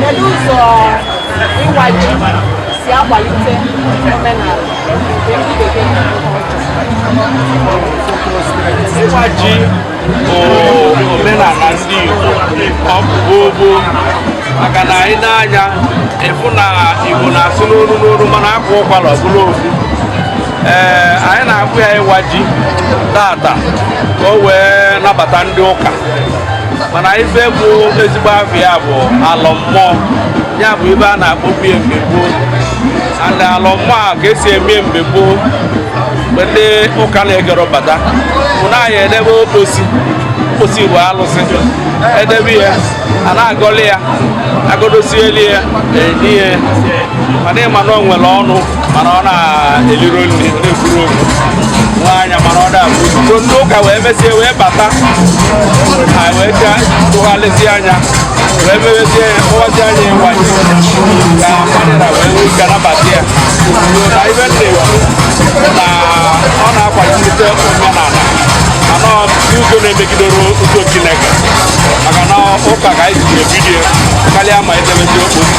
Kedu ụzọ ịwa ji si akwalite omenala nke ndị bekee Ịwa ji bụ omenala ndị Igbo ọ bụ gboo gboo maka na anyị na-anya ịfụ na Igbo na-asụ n'olu n'olu mana akwa ụkwara ọ bụrụ ofu ee anyị na-akpọ ya ịwa ji tata ka o wee nabata ndị ụka mana ife bụ ezigbo afa ya bụ alọ mmụọ ya bụ ibe a na-akpọbu ya mgbe gboo and alọ mmụọ a ka esi eme mgbe gboo mgbe ndị ụka na-ekerọ bata bụ na anyị edebe okposi okposi bụ alụsị e debe ya a na-agọli ya agọdosieli ya e nye ya mana ị ma na o nwere ọnụ mana ọ na-eliro nri na-ekwurọ okwu nwee anya mana ọ da-afụ ozugbo ndị ụka wee mesie wee bata ha wee ga tụgharịzie anya wee mewezie ya kpọwazia ya ịwa ji ka mmadụ wee nwee ike nabata ya na ibe na-ekwu na ọ na-akwalite omenala mana ọ bụ ụzọ na-emegiderọ ụzọ chineke maka na ụka ka anyị ji ebido ya karịa ma edebezi okwu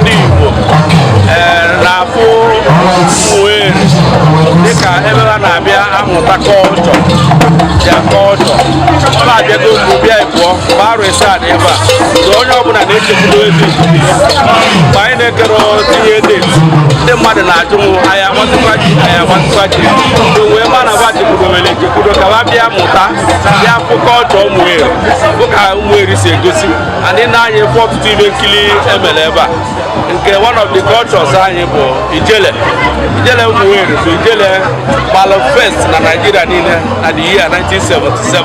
ndị Igbo eh, na-afụ Umueri dịka ebe ha na-abịa amụta kọlchọ ya kọlchọ ọ na-abịago mgbe bịa ịbụọ mgbe arọ isaa dị ebe a na onye ọbụla na-echekwudo ezi mgbe anyị na-ekerọ tinye deti ndị mmadụ na-ajụ m anyị aga-awazikwa ji anyị aga-awazikwa ji o wee ma na ba chekwudowere echekwudo ka ha bịa mụta bịa fụ kọlchọ Umueri fụ ka Umueri si egosi and na anyị fụ ọtụtụ ibe nkiri e mere ebe a nke one of the cultures anyị bụ ijele ijele Umueri bụ ijele gbalụ first na Naịjirịa niile na the year 1977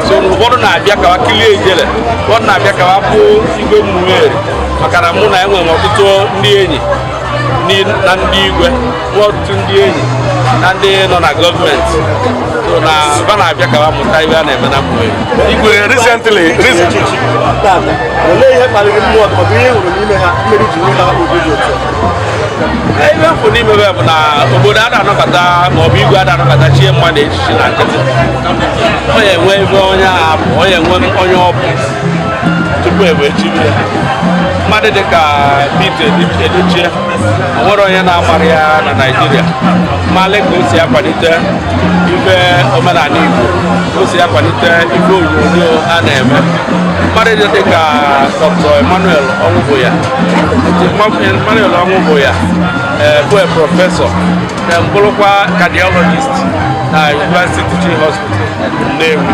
so ụfọdụ na-abịa ka wa kilie ijele ụfọdụ na-abịa ka wa fụ igwe Umueri maka na mụ na enwere ọtụtụ ndị enyi na ndị igwe bụ ọtụtụ ndị enyi na ndị nọ na gọọmenti so na ba na-abịa ka ba mụta ihe a na-eme na Umueri igwe recently olee ihe kpaliri mmụọ ma ọ bụ ihe ị hụrụ n'ime ha mere i ji nweta obi dị otu ibe m fụ n'ime ba bụ na obodo a na-anabata ma ọ bụ igwe a na-anabata chie mmadụ echichi na nkịtị ọ ya-enwe ibe onye ahụ bụ ọ ya-enwe onye ọ bụ tupu e wee chiri ya mmadụ dị ka Pete Edochie o nwerọ onye na-amarọ ya na Naịjirịa malị ka o si akwalite ife omenala Igbo ka o si akwalite ife onyonyo a na-eme mmadụ dị dị ka Dr. Emmanuel Ọnwụbụya Emmanuel Ọnwụbụya ee, bụ prọfesọ and bụrụkwa cardiologist na University Teaching Hospital Nnewi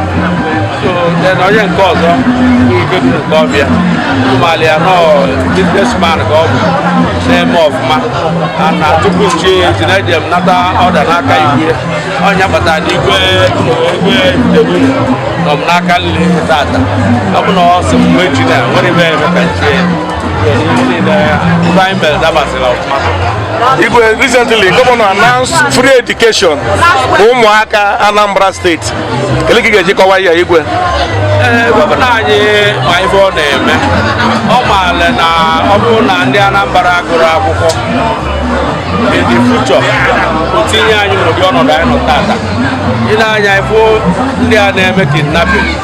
so then onye nke ọzọ bụ Ifedu nke ọbịa ụmụala ya nọ businessman ka ọ bụ na-eme ọfụma ana tupu m chie eji na eji m nata ọda n'aka igwe onye kpatara na igwe igwe ndebu nọ m n'aka nri tata ọ bụ na ọ sị m mgbe chi na nwere ebe eme ka m chie Igwe recently governor announced free education for ụmụaka Anambra State kedu ka ị ga-eji kọwaa ya igwe ee gọvanọ anyị ma ife ọ na-eme ọ maara na ọ bụrụ na ndị Anambra gụrụ akwụkwọ in the future o tinye anyị n'ụdị ọnọdụ anyị nọ tata ị na-anya ifo ndị a na-eme kidnapping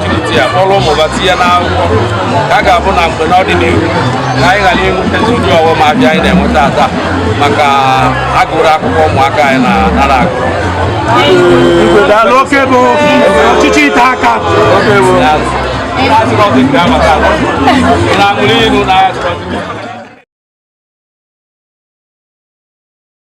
jikọta ya kpọrọ ụmụ ba tinye n'akwụkwọ ka a ga-abụ na mgbe n'ọdịnihu ka anyị ghara inwetazi ụdị ọghọm abịa anyị na-enweta taa maka agụrụ akwụkwọ ụmụaka anyị na-ara agụ daalụ oke bụ ọchịchị ite aka na-aṅụrị ihu n'ahịa